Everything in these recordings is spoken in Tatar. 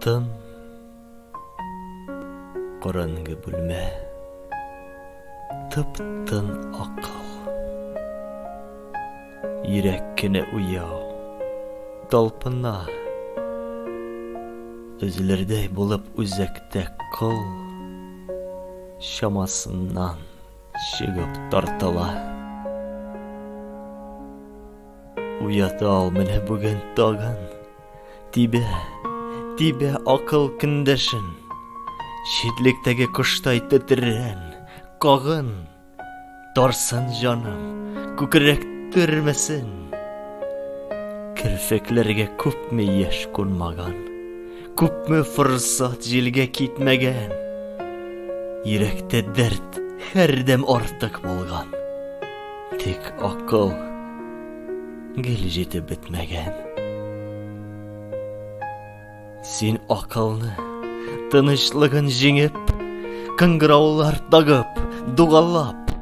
Тын Караңгы бүлмә Тып-тын акыл Йөрәк кенә уяу Талпына Өзелердәй булып үзәктә кол Чамасыннан Чыгып тартыла. Уята ул менә бүген тагын. Тибә, тибә акыл көндәшен. Читлектәге коштай тетрән, кагын. Тарсын җаным, күкрәк төрмәсен. Керфекләргә күпме яшь кунмаган. Күпме форсат җилгә китмәгән, Йөрәктә дәрт һәрдәм артык булган, Тик акыл гел җитеп бетмәгән. Син акылны, тынычлыгын җиңеп, Кыңгыраулар тагып, дугалап,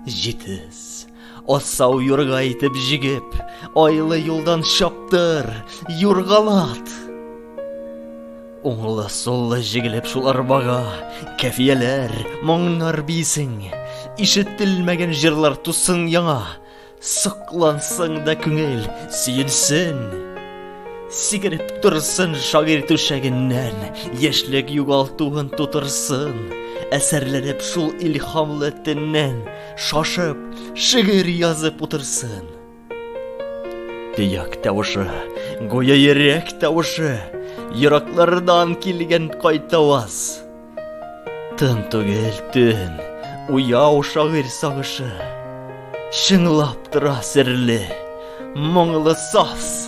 Җитез. Асау юрга итеп җигеп, айлы юлдан чаптыр, юргалат. Уңлы суллы җигелеп шул арбага, кәфияләр, моңнар бисең, ишетелмәгән җырлар тусын яңа, соклансың да күңел сөенсен. Сигереп торсын шагыйрь түшәгеннән, яшьлек югалтуын тутырсын, әсәрләнеп шул илһамлы теннән. Шашып, шигырь язып утырсын. Төяк тавышы, гүя йөрәк тавышы, ераклардан килгән кайтаваз. Тын түгел төн, уяу шагыйрь сагышы. Чыңлап тора серле, моңлы саз.